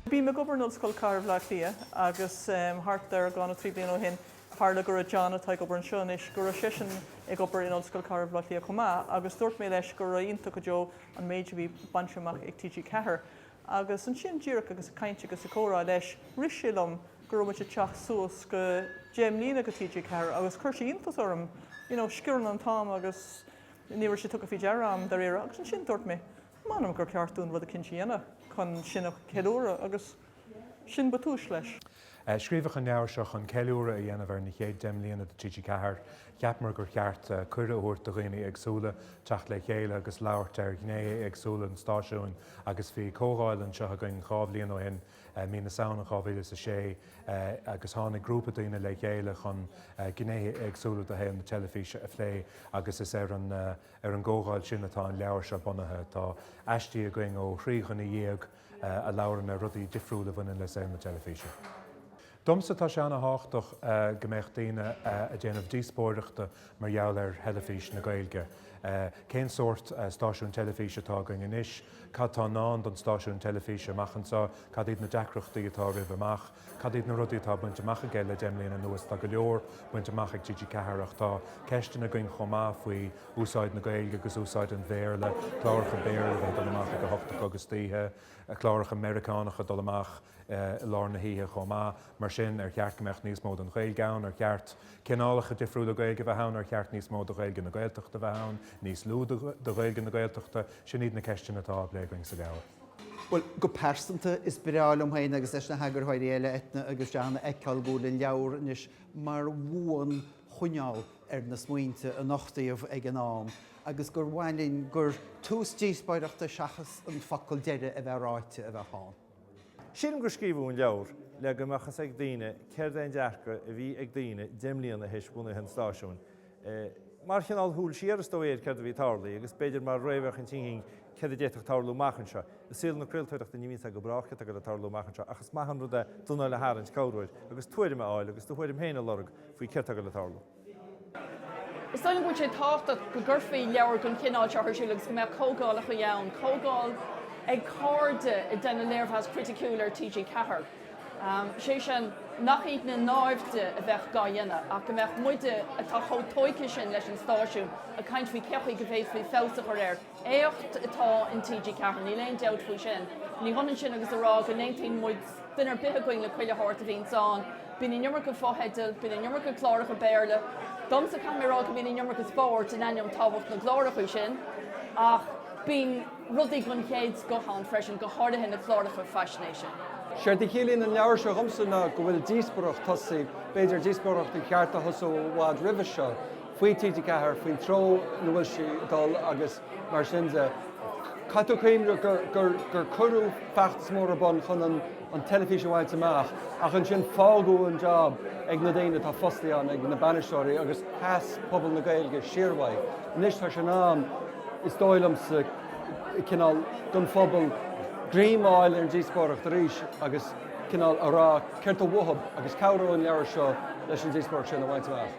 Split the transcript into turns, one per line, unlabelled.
Bím ag obair in Ollscoil Chathair Bhleá Cliath agus thart ar dhá nó trí bliana ó shin tharla go raibh John, atá ag obair anseo anois, go raibh seisean ag obair in Ollscoil Chathair Bhleá Cliath chomh maith agus dúirt mé leis go raibh iontach go deo an méid a bhí bainte amach ag TG4. Agus ansin, díreach agus ag caint agus ag comhrá leis, rith sé liom go raibh muid ag teacht suas go deich mbliana dho TG4 agus chuir sé iontas orm, you know, sciorrann an t-am agus ní raibh sé tugtha faoi deara agam, dáiríre. Agus ansin dúirt mé, m'anam gur cheart dúinn rud eicínt a dhéanamh chun sin a cheiliúradh agus sin ba tús leis. Scríobhadh an leabhar seo chun ceiliúradh a dhéanamh ar na chéad deich mbliana de TG4. Cheapamar gur cheart cuireadh a thabhairt do dhaoine éagsúla teacht le chéile agus labhairt ar ghnéithe éagsúla an stáisiúin agus bhí comhdháil anseo againn dhá bhliain ó shin, mí na Samhna 2006, agus tháinig grúpa daoine le chéile chun gnéithe éagsúla de shaol na teilifíse a phlé agus is ar an gcomhdháil sin atá an leabhar seo bunaithe. Tá aistí againn ó thrí dhuine dhéag. a labhrann ar rudaí difriúla a bhaineann le saol na teilifíse. Domsa, tá sé an-thábhachtach go mbeadh daoine ag déanamh díospóireachta mar gheall ar Theilifís na Gaeilge. Cén sórt stáisiún teilifíse atá againn anois, cad tá i ndán don stáisiún teilifíse amach anseo, cad iad na deacrachtaí atá roimhe amach, cad iad na rudaí atá bainte amach aige le deich mbliana anuas, tá go leor bainte amach ag TG4 ach tá ceisteanna againn chomh maith faoi úsáid na Gaeilge agus úsáid an Bhéarla, cláracha Béarla a bheith ag dul amach ag a hocht a chlog istoíche, cláracha Meiriceánacha ag dul amach i lár na hoíche chomh maith. Mar sin, ar cheart go mbeadh níos mó den Ghaeilge ann? Ar cheart cineálacha difriúla Gaeilge a bheith ann? Ar cheart níos mó de Ghaeilge na Gaeltachta a bheith ann? Níos lú de Ghaeilge na Gaeltachta? Sin iad na ceisteanna atá á bplé againn sa leabhar. Go pearsanta, is mór liom féin agus leis na heagarthóirí eile, Eithne agus John, a fheiceáil go bhfuil an leabhar anois mar bhuanchoinneáil ar na smaointe a nochtaíodh ag an am agus gur mhaith linn gur tús díospóireachta seachas an focal deiridh a bheith ráite a bheadh ann. Sílim gur scríobhadh an leabhar le go mbeadh fhios ag daoine céard é an dearcadh a bhí ag daoine deich mbliana théis bunú an stáisiúin. Mar chineál shúil siar is dóigh ar céard a bhí ag tarlaigh agus b'fhéidir mar réamhfhéachaint éicint céard a d'fhéadfadh tarlú amach anseo. I saol na craoltóireachta ní bhíonn a fhios go brách céard tá ag tarlú amach anseo ach is maith an rud é d'anáil a tharraingt, breathnú agus tuairim a fháil agus do thuairim féin a lorg. faoi céard tá le tarlú. Is dóigh liom go bhfuil sé tábhachtach go gcuirfí leabhar den chineál seo ar siúl agus go mbeadh comhdhálacha ann, comhdháil ag cairde ag déanamh léirmheas criticiúil ar TG4. Is é sin, nach iad na náimhde a bheadh dhá dhéanamh, ach go mbeadh muide, atá chomh tóigthe sin leis an stáisiún, ag caint faoi cé acu go bhféadfaí feabhas a chur air. Éacht atá in TG4, níl aon dabht faoi sin. Ní hionann sin agus a rá go n-aontaíonn muid, duine ar bith againn, le chuile shórt a bhíonns ann. Bíonn an iomarca fotheidil, bíonn an iomarca cláracha Béarla. Domsa, caithfidh mé a rá go mbíonn an iomarca spóirt, in ainneoin tábhacht na gcláracha sin, ach bíonn rudaí den chéad scoth ann freisin, go háirithe na cláracha faisnéise. Séard a chiallaíonn an leabhar seo dhomsa ná go bhfuil díospóireacht tosaithe, b'fhéidir díospóireacht ar cheart a thosú i bhfad roimhe seo. faoi TG4 faoin treo ina bhfuil sí ag dul agus mar sin de. Caithfidh tú cuimhneamh gur cuireadh feachtas mór ar bun chun an teilifís a bhaint amach ach ansin fágadh an jab ag na daoine atá fostaithe ann, ag na bainisteoirí agus sheas pobal na Gaeilge siar uaidh. Anois tá sé in am, is dóigh liomsa, cineál, don phobal greim a fháil ar an díospóireacht arís agus cineál a rá céard tá uathu agus cabhróidh an leabhar seo leis an díospóireacht sin a bhaint amach.